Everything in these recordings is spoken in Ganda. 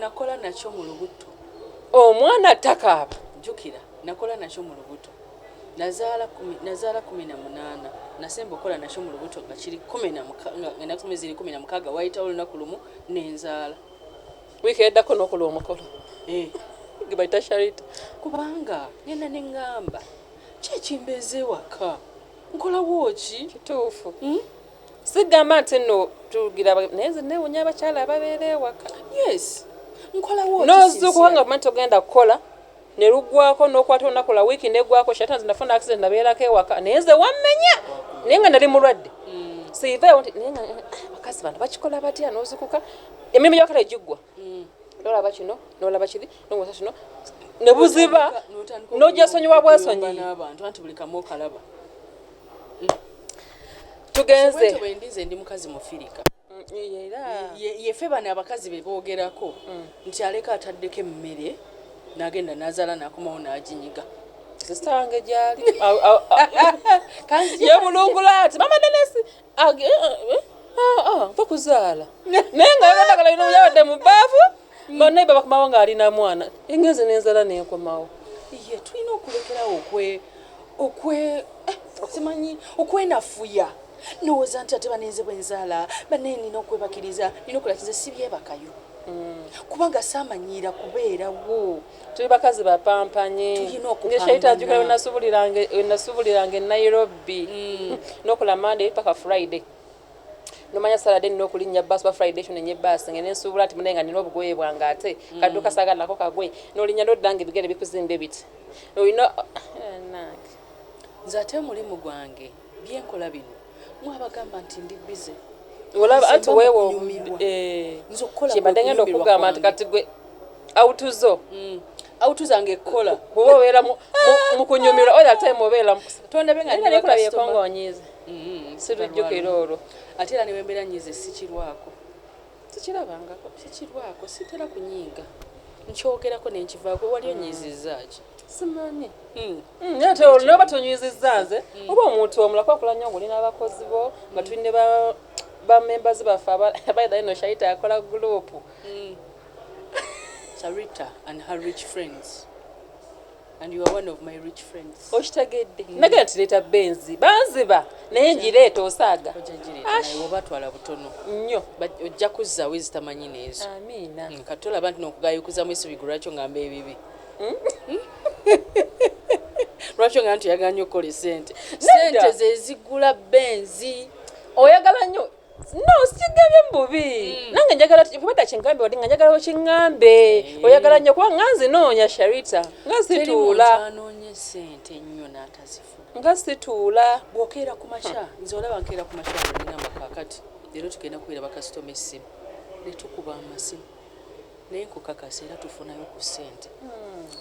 nakola nakyo mu lubuto omwana takaaba jjukira nakola nakyo mu lubuto nazaala kumi nazaala kumi na munaana nasemba okukola nakyo mu lubuto nga kiri kumi na enaku kumi ziri kumi na mukaaga wayitawo olunaku lumu nenzaala wiiki eddako nokulwa omukolo eh. gebayita sharita kubanga ngenda neŋŋamba kyekimbeeza ewaka nkolawo ki kituufu hmm? Sigamba nti nno tugira naye nze newunya abakyala ababeera ewaka. Yes. Nkolawo Nozuukuka nga omanyi togenda kukola ne luggwaako n'okwata olunaku lwa wiiki n'eggwaako shata nze nafuna accident nabeerako ewaka naye nze wammenya naye nga nali mulwadde mm. siivaawo nti naye nga eh, abakazi bano bakikola batya nozukuka emirimu gy'abakala giggwa mm. nolaba kino nolaba kiri nomusa kino nebuziba nojasonyiwa bwesonyi nabantu anti buli kamu okalaba mm. tugenze bwendize ndi mukazi mufirika yefe bano abakazi bebogerako mm. nti aleka ataddeko emmere nagenda nazala nakomawo naginyiga sisange gyali yebulungula ati mama denesi nfa kuzaala naye nga yagenda kala bino yabadde mu baafu banaye babakomawo ng'ali na mwana engenze nenzala nenkomawo ye tulina okulekerawo okwe okwe eh, simanyi okwenafuya ndowooza nti ate banenze bwenzaala banaye nina okwebakiriza nina okulakiriza sibyebakayo mm. kubanga samanyiira kubeerawo Tuli bakazi bapampanyi. Tulina okupambana. Nge Shaita ajukira wenasubuliranga wenasubuliranga e Nairobi. Mm. Nokola Monday paka Friday. Nomanya Saturday nina okulinnya bus ba Friday ekyo nenye bus ngene nsubula nti munenga nina obugoye bwange ate mm. kaduka saga nako kagwe. Nolinya nodda nga ebigere bikuzimbe biti. Olina eh, nange. Nze ate mulimu gwange. byenkola bino mwabagamba nti ndi bize olaba anti weewa okubadengenda eh, okugamba nti kati gwe autuzo mm. autuza nga ekkola kuba obeera mukunyumirwa oyo ate mubeera mukutondabengaekongonyize mm-hmm. sirujjukira olwo ate era newembeera nyize sikirwako sikirabangako sikirwako sitera kunyiiga nkyogerako nenkivaako wali onyiizizzaaki mm. simanyi mm. Mm, ate olwo noba tonywizizza nze mm. oba omuntu omulako akola nnyo ngoli n'abakozi bo nga mm. tuli ne bamembers baffe abaidha ino shaita akola gurupu sarita and her rich friends and you are one of my rich friends okitegedde mm. nagera tireeta benzi banziba naye ngireeta osaaga obatwala butono nnyo ojja kuzza wezitamanyi neezo amiina mm, katolaba nti nokugayukuzamu esubi gulwakyo ngamba ebibi lwaki ogamba nti oyagala nnyo okukola esente sente zezigula benzi oyagala nnyo no sigambye mububi hmm. nange njagala kubadda kingambe wadde nga njagala okingambe eh. oyagala nnyo kuba nga nzinoonya sharita nga situula sente nnyo n'atazifuna nga situula bwokeera ku makya nze olaba nkeera ku makya ngamba kakati leero tugenda kubeera bakasitoma essimu netukuba amasimu Naye nkukakasa era tufunayo ku sente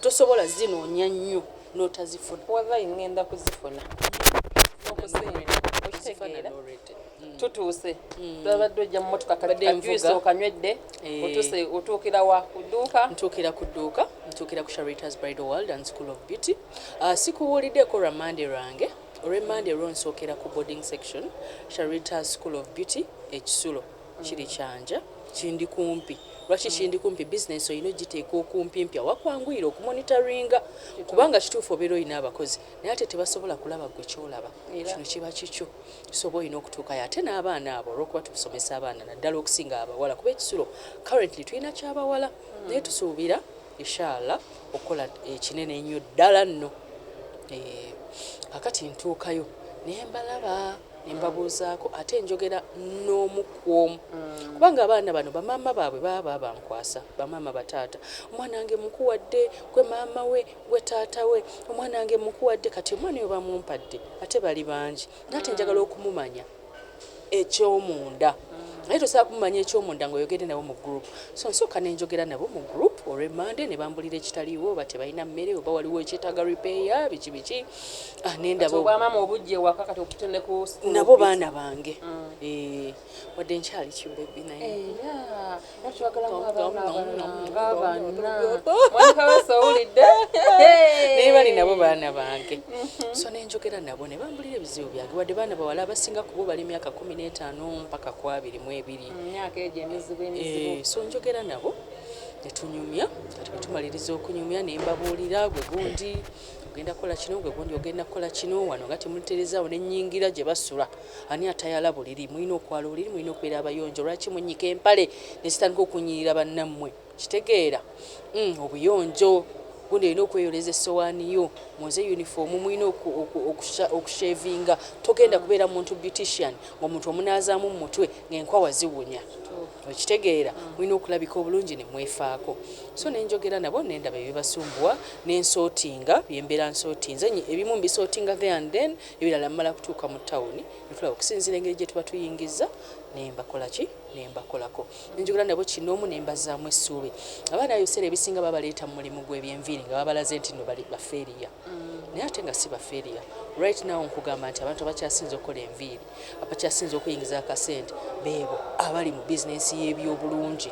tosobola zinonya nnyo notazifuna. Walayi ngenda kuzifuna okitegeera mm. tutuuse mm. babadde ojja mumotoka kajuice okanywedde eh. otuse otuukira wa kuduuka ntuukira ku dduuka ntuukira ku sharitas bridal world and school of beauty ah, sikubuuliddeko lwa mande lwange olwemande lwo nsookera ku boarding section sharita school of beauty ekisulo Kiri kyanja, kindi kumpi. Lwaki kindi kumpi? Bizinensi olina ogiteeka okumpimpi awakwanguyira okumonitoringa kubanga kituufu obeera olina abakozi naye ate tebasobola kulaba gwe kyolaba kino kiba kikyo soba olina okutuukayo ate n'abaana abo olwokuba tusomesa abaana naddala okusinga abawala kuba ekisulo currently tulina kyabawala hmm. naye tusuubira ishaalla okukola ekinene ennyo ddala nno eh, kakati ntuukayo nembalaba ne mbabuuzaako ate njogera n'omu ku omu kubanga abaana bano bamaama baabwe baba babankwasa bamaama bataata omwana wange mukuwadde gwe maama we gwe taata we omwana wange mukuwadde kati omwana oyo bamumpadde ate bali bangi nga ate njagala okumumanya ekyomunda naye tosobola kumumanya ekyomunda ngaoyogere nabo mu group so nsooka nenjogera nabo mu group olwemande ne bambulira ekitaliiwo oba tebalina mmere oba waliwo ekyetaaga repair biki biki Ah, nendaba obwamama obujja ewaka kati obute ne ku school nabo baana bange mm. eh, wadde nkyali kibebi nayeabanaawulidde naye bali nabo baana bange mm-hmm. so nenjogera nabo ne bambulira ebizibu byange wadde baana bawala abasinga kubo bali myaka kumi n'etaano mpaka ku abiri mu ebiri mm, eh, so njogera nabo netunyumya kati bwetumaliriza okunyumya nembabuulira gwe gundi ogenda kukola kino gwe gundi ogenda kukola kino wano nga temuterezawo nenyingira gye basula ani atayala buliri mulina okwala obuliri mulina okubeera abayonjo lwaki munyika empale nezitandika okunyirira bannammwe kitegeera mm, obuyonjo gundi olina okweyoleza essowaani yo munze uniform mulina okushevinga togenda kubeera muntu beautician ngaomuntu omunaazaamu mu mutwe ngaenkwawa ziwunya Okitegeera mulina okulabika obulungi ne mwefaako so ne njogera nabo ne ndaba ebibasumbuwa ne nsootinga bye mbeera nsootinze, ebimu mbisootinga there and then ebirala mmala kutuuka mu ttawuni ne tulaba okusinziira engeri gye tuba tuyingizza ne mbakola ki ne mbakolako ne njogera nabo kinnoomu ne mbazzaamu essuubi. Abaana abo ebiseera ebisinga babaleeta mu mulimu gw'ebyenviiri nga babalaze nti nno bali bafeeriya naye ate nga si bafeeriya right now nkugamba nti abantu abakyasinze okukola enviiri Abakyasinze okuyingiza akasente beebo abali mu bizinensi y'ebyobulungi.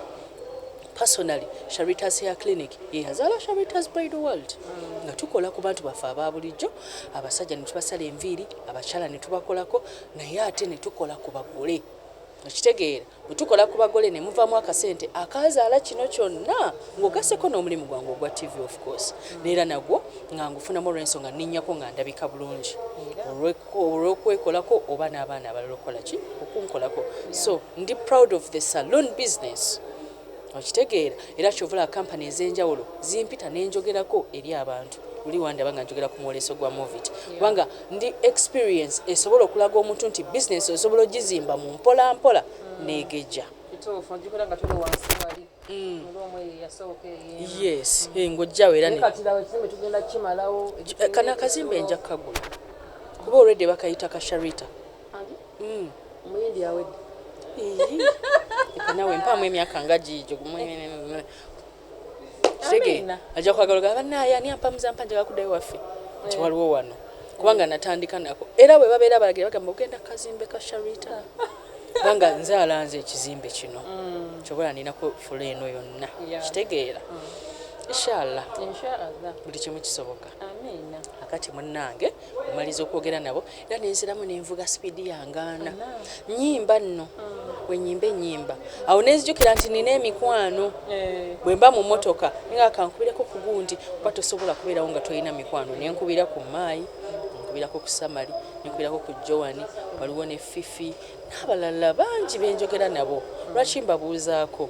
Personally, Sharitas Hair Clinic ye yazaala Sharitas Bridal World nga tukola ku bantu baffe aba bulijjo, abasajja ne tubasala enviiri, abakyala ne tubakolako naye ate ne tukola ku bagole. Okitegeera? Bwe tukola ku bagole ne muvaamu akasente akaazaala kino kyonna ng'ogasseko n'omulimu gwange ogwa TV of course n'era nagwo nga ngufunamu olw'ensonga nninnyako nga ndabika bulungi olw'okwekolako oba n'abaana abalala okukola ki okunkolako so ndi proud of the saloon business okitegeera era kyovula kampani ez'enjawulo zimpita ne njogerako eri abantu oli wandaba nga njogera ku mwoleso gwa movit kubanga Ndi experience esobola okulaga omuntu nti business osobola ojizimba mu mpola mpola negejja. Kituufu ojukira nga tuli wansi wali era omu eyo yasooka eyeema. Yes eh ngojjawo era ne. Naye kati laba ekizimbe tugenda kimalawo. Kano akazimbe nja kagula kuba already bakayita ka Sharita. Omuyindi awedde. Iyii. Leka nawe mpaamu emyaka nga giigyo. kitegeera ajja kwagala ogamba bannaaye ani ampa muzampa njaga kudda ewaffe nti eh. waliwo wano kubanga natandika nako era bwe babeera balagira bagamba ogenda kazimbe ka sharita kubanga nze alanze ekizimbe kino mm. kyobola ninako fula eno yonna kitegeera mm. inshallah buli kimu kisoboka akati munnange maliza okwogera nabo era nenziramu nenvuga sipiidi yangaana nyimba nno mm. wenyimba enyimba awo nenzijukira nti nina emikwano eh. bwemba mu motoka nga kankubireko ku gundi kuba tosobola kubeerawo nga tolina mikwano nenkubira ku maayi nenkubirako ku samali nenkubirako ku joani waliwo ne fifi n'abalala bangi benjogera nabo lwaki mbabuuzaako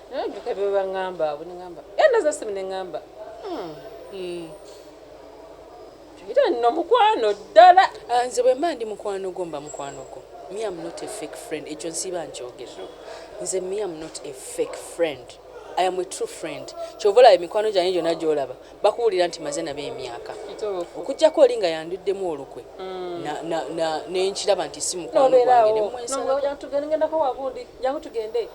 naye ojjuka byebaŋamba abo neŋamba endaza eh, simu neŋamba hmm. hmm. era nno mukwano ddala ah, nze bwemba ndi mukwano gwo mba mukwano gwo me am not a fake friend ekyo nsiiba nkyogera nze me am not a fake friend i am a true friend kyova olaba emikwano gyange gyonna gyolaba bakuwulira nti maze nabo emyaka okujjako oli nga yanduddemu olukwe mm. nenkiraba nti si mukwano gwange nemwensala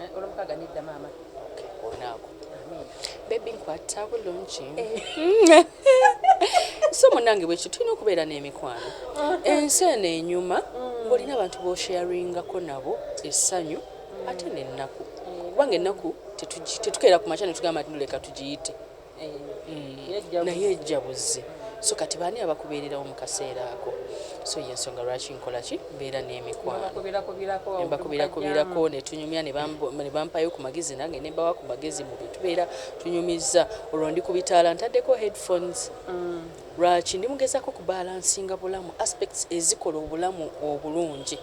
Eh, olwomukaaga nedda maama olunaaku bebi nkwatta bulungi eh. so munange bwekyo tulina okubeera n'emikwano ensi eno enyuma mm. ng'olina abantu bosharingako nabo essanyu ate nennaku kubanga ennaku tetukeera ku makya netugamba nti noleka tugiyite eh, naye ejjabuzi so kati baani abakubeererawo mu kaseera ako so yensonga lwaki nkola ki mbeera n'emikwanobakubirakubiirako netunyumya nebampayo ku magezi nange nembawa ku magezi mu bitubeera tunyumizza olwo ndi ku bitaala ntaddeko headphones mm. lwaki ndi mugezako ku balansinga bulamu aspects ezikola obulamu obulungi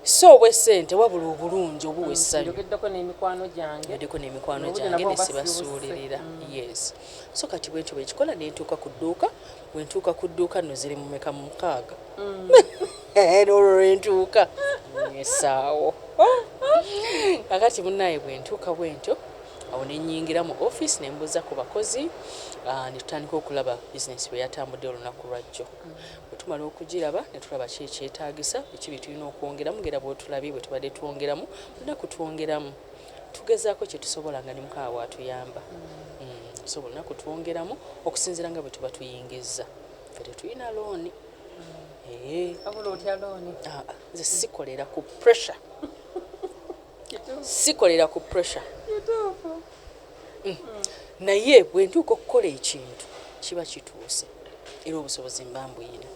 si obw'essente wabula obulungi obuwa essanyu njogeddeko n'emikwano gyange njogeddeko n'emikwano gyange ne sibasuulirira mm. yes so kati bwentyo bwe kikola ne ntuuka ku dduuka bwe ntuuka ku dduuka nno ziri mu meka mu mukaaga mm. eh, olwo lwe ntuuka esaawo kakati munnaaye bwe ntuuka bwentyo awo ne nnyingira mu ofiisi ne mbuuza ku bakozi ah, ne tutandika okulaba bizinesi bwe yatambudde olunaku lwajjo mm. Bwe tumala okugiraba ne tulaba ki ekyetaagisa, biki bye tulina okwongeramu ng'era bw'otulabye bwe tubadde twongeramu lunaku twongeramu tugezaako kye tusobola nga ne Mukama bw'atuyamba so buli lunaku twongeramu okusinziira nga bwe tuba tuyingizza. Ffe tetulina looni. Wabula otya looni. Nze sikolera ku pressure. sikolera ku pressure mm. naye bwentuuka okukola ekintu kiba kituuse era obusobozi mba mbuyina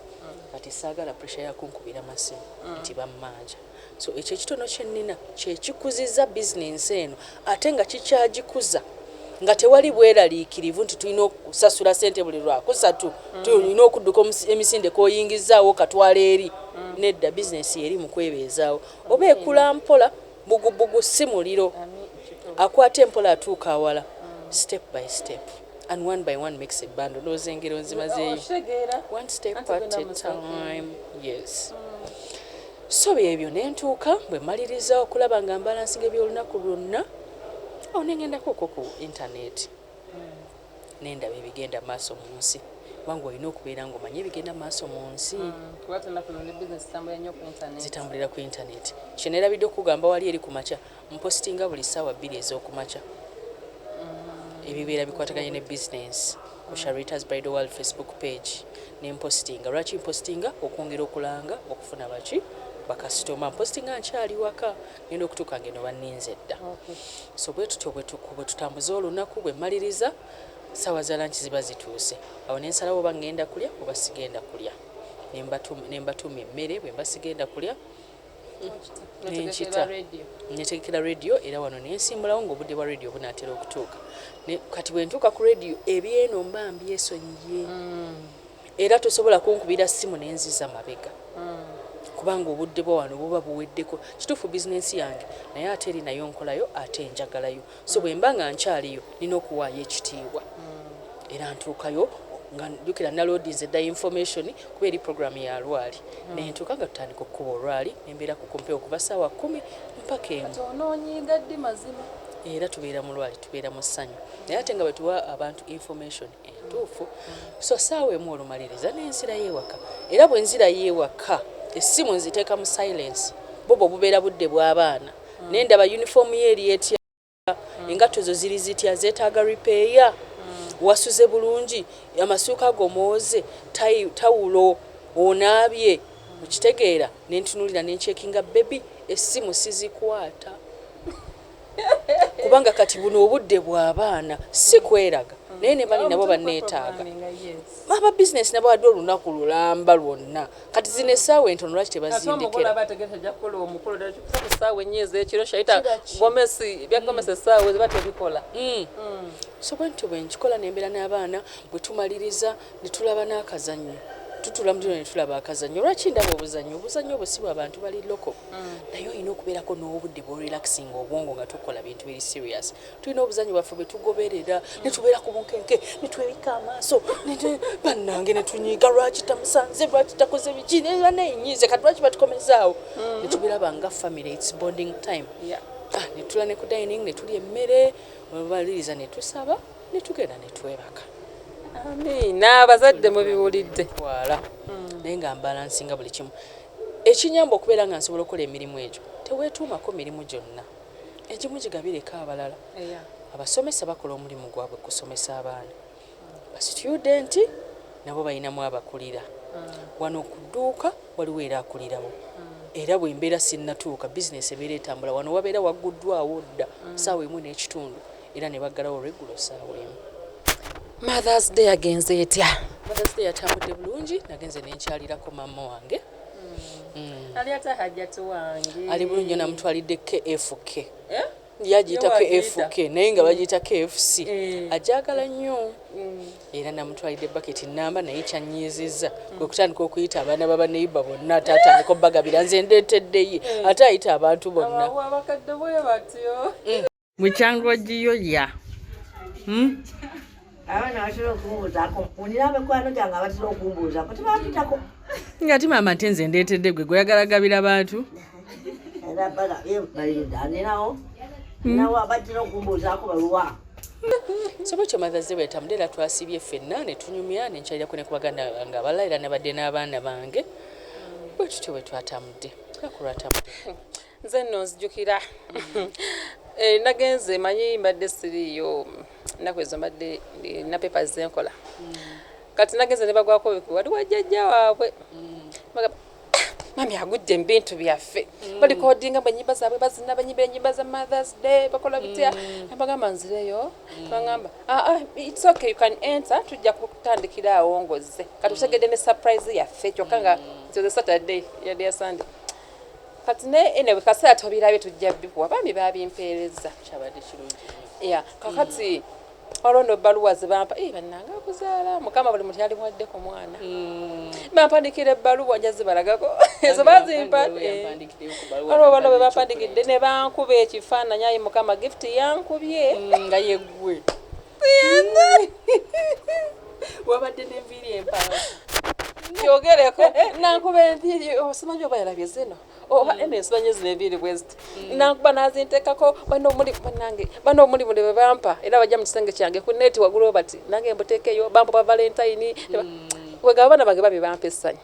kati saagala pressure yakunkubira masimu mm. nti bammanja so ekyo ekitono kyennina kyekikuziza bizinensi eno ate nga kikyagikuza nga tewali bweraliikirivu nti tulina okusasula sente buli lwakusatu mm. tulina okudduka emisinde koyingizaawo katwala eri mm. nedda bizinensi yeri mukwebeezaawo Oba ekula mpola, bbugubugu si muliro, akwata empola atuuka awala, step by step and one by one makes a bundle, ndowooza engero nzimazeeyo, one step at a time, yes. So byebyo ne ntuuka bwe mmaliriza okulaba nga mbalansinga eby'olunaku lwonna, awo ne ngendako okwo ku internet. nendaba ebigenda maaso munsi kubanga olina okubeera nga omanyi ebigenda maaso munsi mm, zitambulira ku internet kyenerabidde okugamba wali eri kumakya mpositinga buli saawa bbiri ezokumakya mm. ebibeera bikwataganye ne business ku sharitas bridal world facebook page nempositinga lwaki mpositinga okwongera okulanga okufuna baki bakasitoma mpositinga nkyali waka Ngenda okutuuka ng'eno banninze dda. So bwe tutyo bwe tutambuza olunaku, bwe mmaliriza ssaawa za lanki ziba zituuse. Awo ne nsalawo oba ngenda kulya oba sigenda kulya. Ne mbatuma emmere bwe mba sigenda kulya ne nkita. Netegekera leediyo era wano ne nsimbulawo ng'obudde bwa leediyo bunaatera okutuuka. Kati bwe ntuuka ku leediyo eby'eno mba mbyesonyiye. Mm. Era tosobola kunkubira ssimu ne nziza mabega kubanga obudde bwa wano buba buweddeko. Kituufu bizinensi yange naye ate eri nayo nkolayo ate njagalayo. So bwe mba nga nkyaliyo nnina okuwaayo ekitiibwa era ntuukayo nga, jjukira naloodinze dda yinfomesoni kuba eri pulogulaamu ya lwaali ne ntuuka nga tutandika okukuba olwaali ne mbeera ku kumpi okuva ssaawa kkumi mpaka emu. Kati onoonyiiga ddi mazima? Era tubeera mu lwaali tubeera mu ssanyu naye ate nga bwe tuwa abantu yinfomesoni entuufu so saawa emu olumaliriza nenzirayo ewaka era bwenzirayo ewaka essimu nziteeka mu silence bwo bwo bubeera budde bwabaana mm. nendaba uniform ye eri etya mm. engatto zo ziri zitya zetaaga repair mm. wasuze bulungi amasuuka go mooze tawulo onaabye okitegeera nentunulira nenchekinga bebi essimu sizikwata kubanga kati buno obudde bw'abaana si kweraga naye ne bali nabo banneetaaga aba bizinesi nabo adde olunaku lulamba lwonna kati zino essaawa entono lwaki tebazindikiraebyagomesiekyiroshaitagomesesaawezbatebikola hmm. hmm. so bwentyo bwe nkikola nembeera n'abaana bwe tumaliriza ne tulaba n'akazannyo tutula mudino ne tulaba akazannyo lwaki ndaba obuzannyo obuzannyo obwo si bwa bantu bali loko mm. naye olina okubeerako n'obudde bworelaxinga obwongo nga tukola bintu biri serious tulina obuzanyi bwaffe bwe tugoberera mm. netubeera ku bunkenke netwebika amaaso bannange netunyiiga lwaki tamusanze lwaki takoze biki nebanenyiize kati lwaki batukomezaawo mm. netubiraba nga family its bonding time yeah. ah, netula ne ku dining netulya emmere baliriza netusaba netugenda netwebaka amiina abazadde mubiwulidde wala mm. naye nga mbalansinga buli kimu Ekinnyamba okubeera nga nsobola okukola emirimu egyo, Teweetuumako mirimu gyonna. Egimu gigabireko abalala. Abasomesa bakola omulimu gwabwe kusomesa abaana. Basitudenti nabo balinamu abakulira. Wano ku dduuka waliwo era akulirawo. Era bwe mbeera sinnatuuka, bizinensi ebeera etambula. Wano wabeera wagguddwawo dda ssaawa emu n'ekitundu. era ne baggalawo olweggulo ssaawa emu mothers day agenze etya mothers day yatambudde bulungi nagenze nenkyalirako maama wange hmm. Hmm. ali bulungi yo namutwalidde kfk eh? yagiyita kfk naye nga bagiyita kfc eh. ajagala nnyo hmm. era namutwalidde baketi namba naye kyanyiizizza kwe kutandika okuyita abaana babaneiba bonna ate atandika obbagabira nze ndeeteddeyi eh. ate ayita abantu bonna mukyanga ogiyo ya hmm? abaana batera okumbuuzaako unira abekwano gyange abatera okumbuuzaako tebakitako nga ati maama nte nze ndeetedde gwe gweyagala gabira bantu ninawo ninawo abatera okumbuuzaako baluwa soba ekyo mathaze bwetambula era twasibye ffenna ne tunyumya ne nkyalirako ne ku baganda bange abala era nabadde n'abaana bange bwe tutyo bwe twatambudde nakulwatambudde nze nno nzijukira eh, nagenze manyi mbadde siriiyo nnaku ezo mbadde eh, na pepa zenkola mm. kati nagenze ne bagwako wali wajjajja waabwe mm. ah, mami agudde mu bintu byaffe mm. balikodinga mu enyimba zaabwe bazina banyimba enyimba za mothers day bakola bitya nabagamba nzireyo bagamba ah, ah, its okay you can enter tujja kutandikira awo ngozze kati utegedde ne surprise yaffe kyokka nga nze saturday yali ya sunday Kati ne ene bwe kaseera tobirabye tujja bikuwa bambi babimpeereza kyabadde kirungi ya kakati mm. olwo no baluwa zebampa ee bannanga akuzaala mukama buli muntu yali mwadde ku mwana mm. bampandikira ebbaluwa nja zibalagako ezo bazimpa olwo bano bwe bampandikidde ne bankuba ekifaananyi ayi mukama gift yankubye mm, nga yeggwe wabadde n'enviiri empaala yogereko nankuba enviiri osimanyi oba yalabye zino oba eno ensimanyi zino enviiri bweziti mm. nankuba nazintekako bano omuli banange bano omuli muli bebampa era bajja mu kisenge kyange ku neeti wagulu bati nange mbutekeyo bampa ba valentayini mm. wegaba abaana bange babi bampa essanyu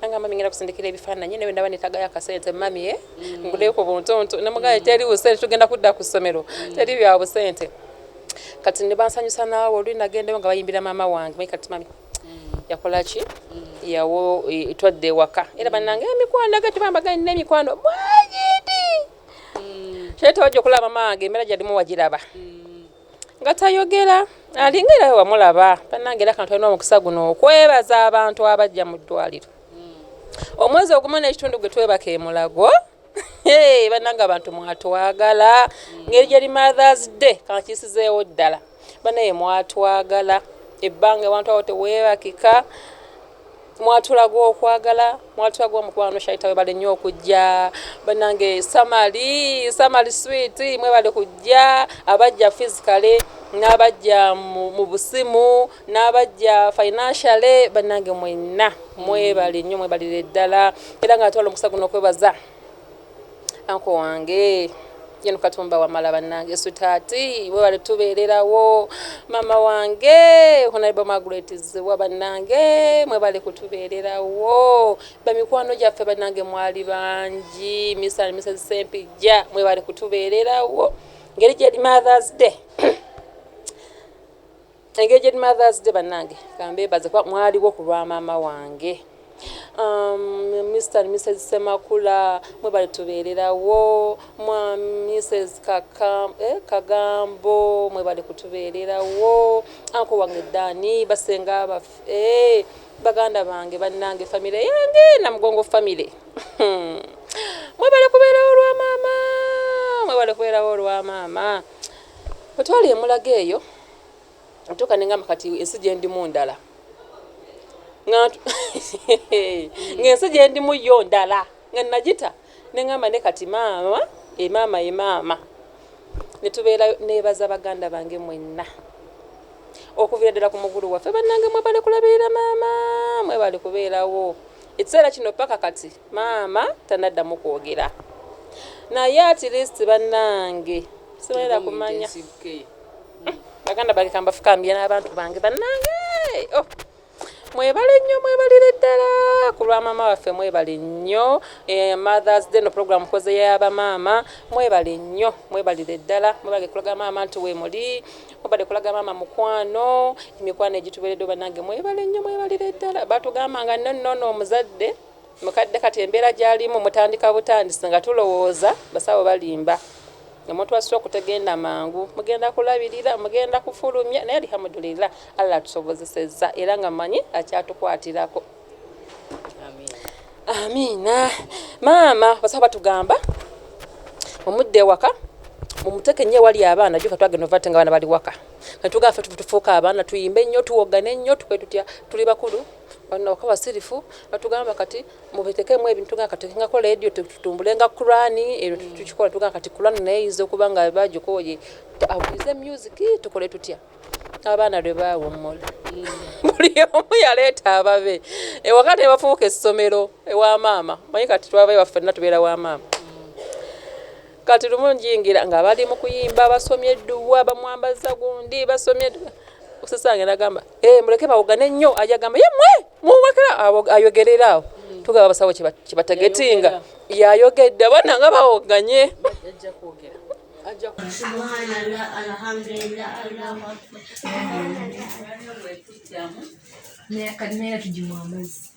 nangamba mingenda kusindikira ebifaananyi naye ndaba netagayo akasente mamie mm. nguleyo ku buntuntu nemugaye teri busente tugenda kudda ku ssomero mm. teri bya busente kati nebansanyusa naawe oluli nagendeyo nga bayimbira maama wange maye kati mami mm. yakola ki yawo e, twadde ewaka era banange emikwano aga tebambagani nemikwano mwagidi kyetawajja okulaba maama wange emera gyalimu wagiraba nga tayogera alinga era wamulaba banange era kantu alina omukisa guno okwebaza abantu abajja mu ddwaliro hmm. omwezi ogumu n'ekitundu gwe twebaka emulago banange abantu mwatwagala hmm. ngeri gyeri mothers day kankisizeewo ddala banaye mwatwagala ebbanga ewantu awo tewebakika Mwatulaga okwagala mwatulaga omukwano shaita webale nnyo okujja banange samali samali sweet mwebale kujja abajja physically n'abajja mu busimu n'abajja financially banange mwenna mwebale nnyo mwebalire ddala era nga atwala omukusa guno okwebaza Anko wange Gen Katumba Wamala banange sutaati webale tubeererawo mama wange Honorable Margaret Zziwa banange mwebale kutubeererawo bamikwano gyaffe banange mwali bangi Mr and Mrs Sempijja mwebale kutubeererawo ngeri gyeri Mother's Day Engaged mother's day banange kambebaze kuba mwaliwo ku lwa maama wange um, Mr and Mrs Semakula mwebale tubeererawo mwa Mrs Kaka eh, Kagambo mwebale kutubeererawo anko wange Dani basenga baffe eh, baganda bange banange famire yange na mugongo famire mwebale kubeerawo olwa maama mwebale kubeerawo olwa maama otwali emulaga eyo ntuuka nengamba kati ensi gyendimu ndala ngaensi gyendimu yo ndala nga nagita nengamba ne kati maama emaama eh, emaama eh, netubeera nebaza baganda bange mwenna okuvira ddala ku mugulu waffe bannange mwebale kulabirira maama mwebale kubeerawo ekiseera kino paka kati maama tanaddamu kwogera naye at least bannange sibaera kumanya baganda bange kambafukambye n'abantu bange bannange oh. mwebale nnyo mwebalire ddala ku lwa maama waffe mwebale nnyo eh, mothers day no program koze yabamaama mwebale nnyo mwebalire ddala mwebale kulaga maama nti wemuli mubadde kulaga maama mukwano emikwano egitubeeredde banange mwebale nnyo mwebalire ddala batugamba nga nonnono omuzadde Mukadde kati embeera gyalimu mutandika butandisi nga tulowooza basawo balimba nga mutwasise okutegenda mangu mugenda kulabirira mugenda kufulumya naye Alihamudulillah Allah atusobozesezza era nga manyi akyatukwatirako Amiina maama basawo batugamba omudde ewaka mumuteke nnyo ewali abaana jjuka twagenda ovate nga abaana bali waka kati tugamba fe tufuuka abaana tuyimbe nnyo tuwogane nnyo tukwe tutya tuli bakulu Bano nabo kabasirifu batugamba kati mubetekemu ebintu nga kati nga kola radio tutumbule nga Quran ero mm. tukikola tuga kati Quran naye izo kuba nga bajo koje abuze music tukole tutya abaana lwe bawo mol mm. buli omu yaleta ababe e wakati bafuuka esomero e wa mama mayi kati twavayo waffe na tubera wa mama mm. kati lumu njingira nga bali mukuyimba basomye duwa bamwambaza gundi basomye usasanga nagamba Eh, muleke bawogane nnyo aja gamba ye mwe muwakira ayogerera awo tugaba abasawo kibatagetinga yayogedde abaana nga bawoganye naye kati naye tugimwa amazzi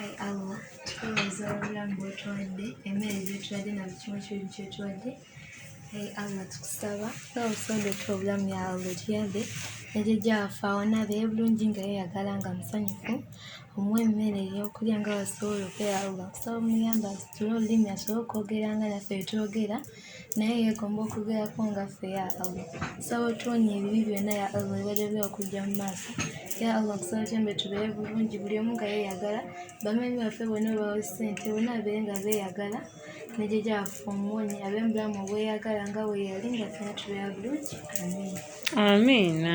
Ai Allah tukubaza obulamu bwotuwadde emmere gyotuwadde na buli kimu kibi kyotuwadde Ai Allah tukusaba n'obusonda otuwa obulamu ya Allah otuyambe nejejja waffe awona abeere bulungi nga yeyagala nga musanyufu omuwa emmere eyokulya nga wasobola okwera Allah kusaba omuyambe asitule olulimi asobole okwogera nga naffe bwetwogera naye yeegomba okubeerako nga ffe ya allah nsaba otuwonya ebibi byonna ya allah ebalebe okujja mu maaso ya allah kusaba kyembe tubeere bulungi buli omu nga yeeyagala bamenyi baffe bonna obawe ssente bonna babeere nga beeyagala nejeja waffe omuwonyi abe mubulamu obweyagala nga weyali nga ffena tubeera bulungi amiina amiina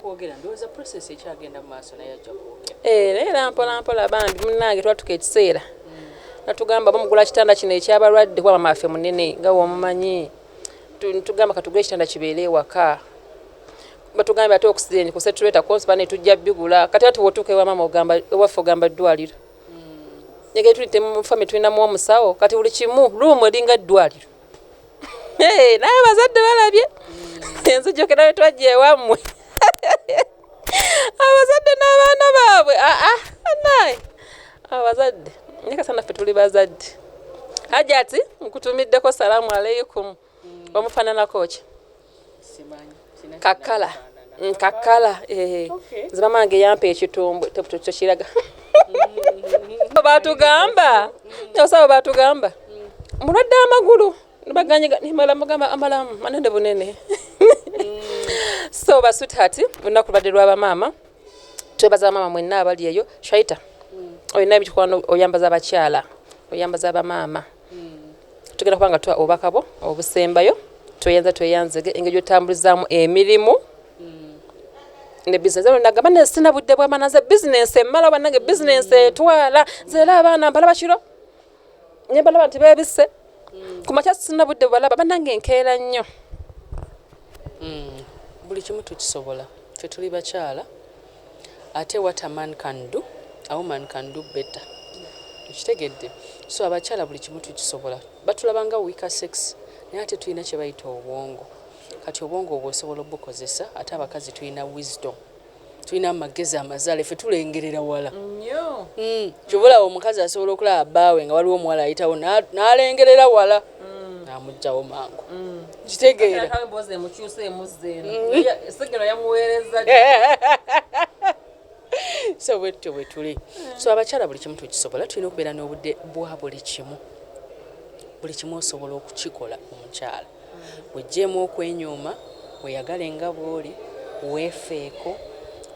kwogera ndowooza process ekyagenda mu maaso naye ajja kwogera eh, naye era mpolampola bambi munnange twatuka ekiseera hmm. natugamba bamugula kitanda kino ekyabalwadde kuba mama affe munene nga womumanyi tugamba katugula ekitanda kibeere ewaka batugambye ate oxygen ku setureta konsiba ne tujja bigula kati ati wotuuka ewa mama ogamba ewaffe ogamba ddwaliro hmm. negeri tuli temu famiry tulinamu omusawo kati buli kimu luumu eringa ddwaliro naye abazadde balabye enzijukira bwe twajja ewammwe abazadde n'abaana baabwe aa ah, ah, naye abazadde naye kasana ffe tuli bazadde hajati nkutumiddeko salaamu aleikum omufaananako ki kakala mm, kakala eh. nze mama wange yampa ekitumbwe tekiraga mm. batugamba osaba batugamba mm. mulwadde amagulu nibaganyimala mugamba amalamu manene bunene so basweetheart olunaku lubadde lwabamaama twebaza bamaama mwenna abali eyo shaita olina ebikwano oyambaza abakyala oyambaza abamaama tugenda kuba nga tuwa obubaka bwo obusembayo tweyanza tweyanzege engeri gyotambulizaamu emirimu ne bizinesi eno nagamba ne sina budde bwamana nze bizinesi emmala banange bizinesi etwala nze era abaana mbalaba kiro ne balaba nti beebisse ku makya sina budde bwebalaba banange enkeera nnyo hmm. buli kimu tukisobola ffe tuli bakyala ate what a man can do a woman can do better okitegedde so abakyala buli kimu tukisobola batulaba nga weaker sex naye ate tulina kyebayita obwongo kati obwongo obwo osobola obukozesa ate abakazi tulina wisdom tulina amagezi amazaale fe tulengerera wala mm. kyobola omukazi asobola okulaba baawe nga waliwo omuwala ayitawo n'alengerera wala mm. amugyawo mangu mm. kitegeeraemboozi emukyusa emuzza eno mm. sigino yamuweereza so bwetutyo bwetuli so abakyala buli kimu tukisobola tulina okubeera n'obudde bwa buli kimu buli kimu osobola okukikola omukyala wejjeemu okwenyuuma Weyagale nga bw'oli, weefeeko,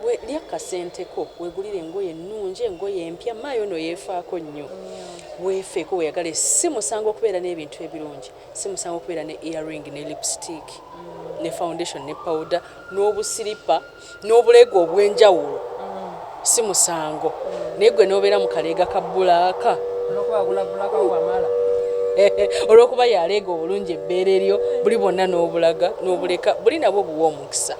we, lya ku kasente ko, weegulire engoye ennungi, engoye empya, Maaya ono yeefaako nnyo, weefeeko, weyagale, si musango okubeera n'ebintu ebirungi, si musango okubeera ne ear ring ne lipstick ne foundation ne pawuda n'obusiripa N'obuleega obw'enjawulo si musango naye ggwe n'obeera mu kaleega ka bbulaaka olw'okuba y'aleega obulungi ebbeere lyo, buli bwonna n'obulaga n'obuleka buli nabwo buwa omukisa.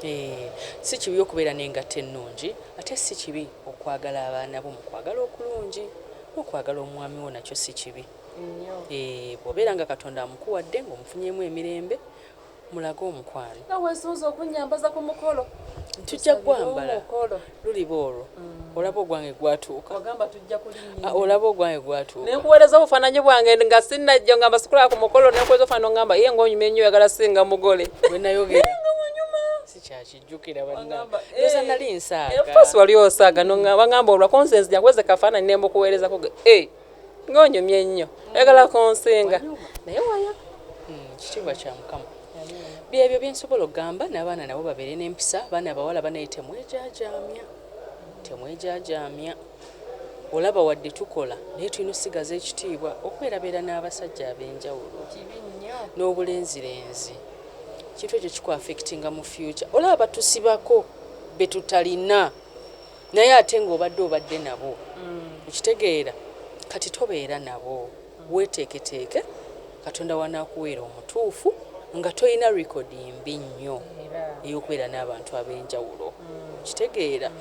Eeh, si kibi okubeera n'engatto ennungi ate si kibi okwagala abaana bo mu kwagala okulungi. N'okwagala omwami wo nakyo si kibi. Eeh, bw'obeera nga Katonda amukuwadde ng'omufunyeemu emirembe. mulage omukwano. Nga weesunze okunnyambaza ku mukolo. Tujja kugwambala luliba olwo. Mm. Olaba ogwange gwatuuka. Wagamba tujja kulinnya. Ah, olaba ogwange gwatuuka. Ne nkuweereza obufaananyi bwange nga sinnajja ngamba sikulaba ku mukolo ne nkuweereza obufaananyi ngamba ye ng'onyumye nnyo oyagala singa mugole. Bwe nayogera. sikyakijjukira bannange nali nsaaga. Enfuusi wali osaaga n'oŋŋamba olwako nze nzija kuweza kafaananyi ne mbukuweerezako. Eh! nga onyumye nnyo oyagala kunsinga naye wayo hmm, kitiibwa kya mukama byebyo byensobola okugamba n'abaana nabo babeere n'empisa abaana abawala banaye temwejajaamya temwejajaamya olaba wadde tukola naye tulina osigaza ekitiibwa okwerabeera n'abasajja ab'enjawulo n'obulenzirenzi kintu ekyo kikuafectinga mu future olaba batusibako betutalina Naye ate nga obadde obadde nabo. Okitegeera? Kati tobeera nabo. Weeteeketeeke, Katonda w'anaakuweera omutuufu, nga tolina likodi mbi nnyo ey'okubeera n'abantu ab'enjawulo. Okitegeera?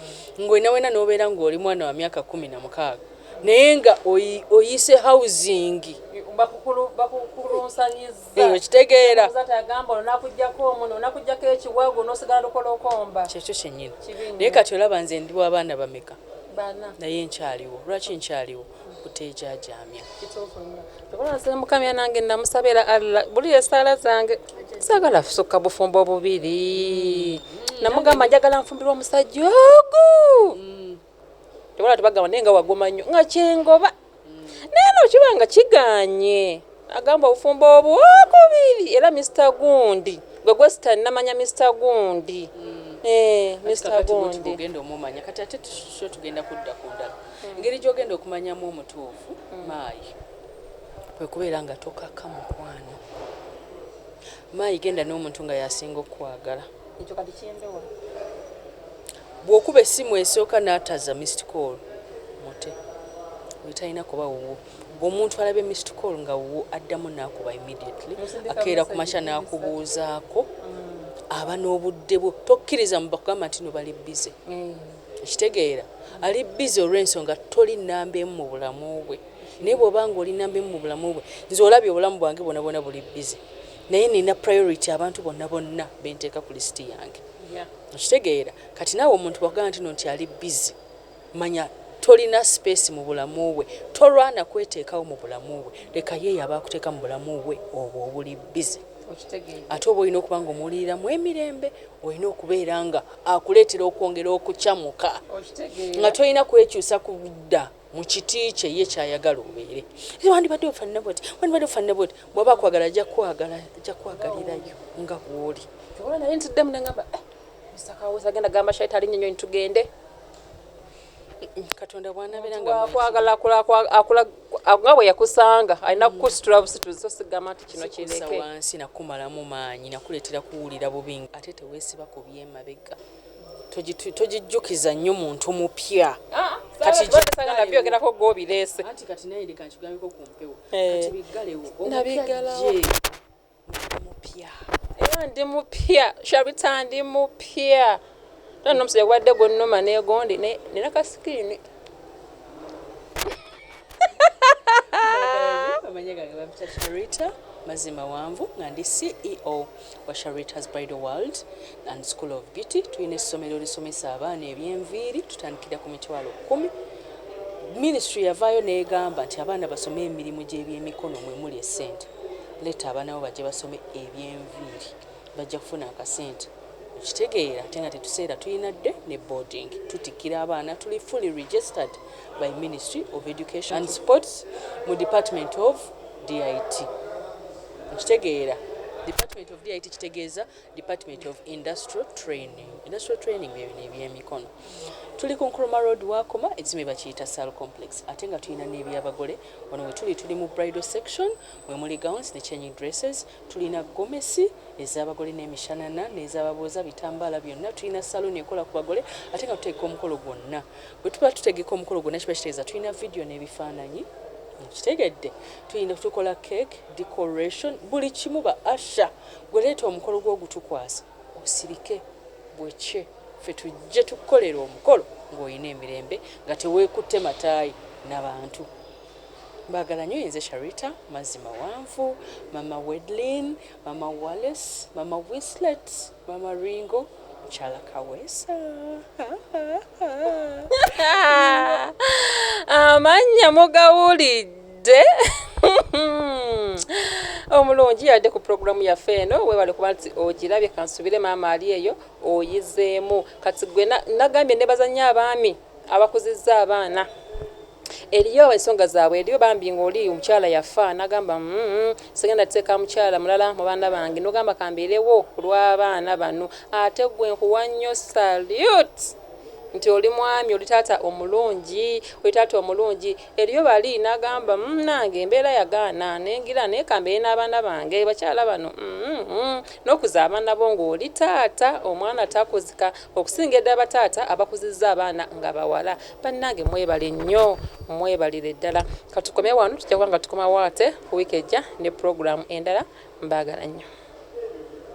Nga oli na wena n'obeera nga oli mwana wa myaka kkumi na mukaaga, naye nga oyi, oyise hawuzingi. Bakukulu, bakukulunsanyiz. eyo kitegeera agamba onakujjako omuno onakujjako ekiwago nosigala lukola okomba kyekyo kyenyini naye kati olaba nze ndi wabaana bameka naye nkyaliwo lwaki nkyaliwo kuteejajamya mukamya nange namusabira alla buli esaala zange sagala fusukka bufumbo bubiri mm. namugamba njagala nfumbirwa omusajja ogu mm. tewala tebagamba naye nga wagoma nnyo nga kyengoba naye no kiba nga kiganye agamba obufumbo obwokubiri era mr gundi gwe gwesita namanya mr gundi mm. eh, mr gundi ogenda omumanya kati ate tuso tugenda kudda ku ndala mm. engeri gyogenda okumanyamu omutuufu mm. maayi kwekubeera nga tokaka mukwano maayi genda n'omuntu nga yasinga okukwagala ekyo kati kyembewa Bwokuba essimu esooka nataza missed call mute oyo talina kuba wuwo. Omuntu alabye missed call nga wuwo addamu nakuba immediately. Akeera kumakya nakubuuzaako. Aba nobudde bwo tokkiriza mbu bakugamba ntino bali busy. Okitegeera? Ali busy olwensonga toli namba emu mu bulamu bwe. Naye bwoba nga oli namba emu mu bulamu bwe, nze olabye obulamu bwange bwona bwona buli busy naye nina priority abantu bonna bonna benteeka ku list yange. Okitegeera kati naawe omuntu bwakugamba ntino nti ali busy manya tolina space mubulamu bwe tolwaana kweteekawo mubulamu bwe leka yeeyo aba akuteeka mubulamu bwe obwo obuli busy ate oba olina okuba nga omuwuliriramu emirembe olina okubeera nga akuleetera okwongera okucamuka nga tolina kwekyusa kubudda. mu kiti kye ye kyayagala obeere era wandibadde ofanana bwoti wandibadde ofanana bwoti bwaba akwagala ajja kwagala ajja kwagalirayo nga bwoli ola naye nti ddemu nengamba eh, musakawuzi agenda gamba shaita alinye nyonyi tugende katonda bwanabeera nga akwagala nga bwe yakusanga alina kukusitula busituzi so sigamba nti kino kireke wansi nakumalamu maanyi nakuleetera kuwulira bubi ate teweesiba ku byemabega togijjukiza nnyo muntu mupya ndi mupya shabita ndi mupya nona omusajja gwadde gwonnuma negondi nina kasikiini mazima wanvu nga ndi ceo wa Sharitah's Bridal World and School of Beauty. Tulina essomero lisomesa abaana eby'enviiri tutandikira ku mitwalo kkumi. Ministry yavaayo n'egamba nti abaana basome emirimu gy'ebyemikono mwe muli essente. Leeta abaana bo bajje basome eby'enviiri bajja kufuna akasente. Okitegeera ate nga tetuseera tulina dde ne boarding. Tutikkira abaana tuli fully registered by Ministry of Education and Sports mu Department of DIT. Nkitegeera Department of DIT kitegeeza Department of Industrial Training. Industrial Training bye bino ebyemikono. Tuli ku Nkrumah Road wakoma ekizimu ebakiyita Sal Complex ate nga tulina n'ebyabagole wano we tuli tuli mu bridal section mwe muli gowns ne changing dresses tulina gomesi ez'abagole n'emishanana n'ezababuuza bitambaala byonna tulina saloon ekola ku bagole ate nga tuteeka omukolo gwonna. bwe tuba tutegeka omukolo gwonna kiba kitegeeza tulina vidiyo n'ebifaananyi kitegedde tulina tukola cake decoration buli kimu ba asha gweleeta omukolo gw'ogutukwasa osirike bwekye ffe tujje tukukolera omukolo ng'olina emirembe nga teweekutte mataayi na bantu mbagala nyo yenze sharita mazzi mawanvu mama wedlin mama wallis mama wislet Mama Ringo mukyala kaweesa amannya mugawulidde omulungi yadde ku pulogulaamu yaffe eno webale kuba nti ogirabye kansubire maama ali eyo oyizeemu kati gwe nagambye nebazanya abaami abakuzizza abaana Eliyo ensonga zabwe eliyo bambi nga oli omukyala yafa nagamba uhmm sigenda teka mukyala mulala mubaana bange nogamba kamberewo kulwabaana bano ate gwe nkuwa nyo salute nti oli mwami oli taata omulungi oli taata omulungi eliyo bali nagamba munange embeera yagaana nengira naye kambere nabaana bange bakyala bano uhmm nokuza abaana bo nga oli taata omwana takuzika okusinga edala bataata abakuziza abaana nga bawala Bannange mwebale nnyo mwebalire ddala katukome wano tujja kuba nga tukomawo ate week ejja ne program endala mbaagala nnyo.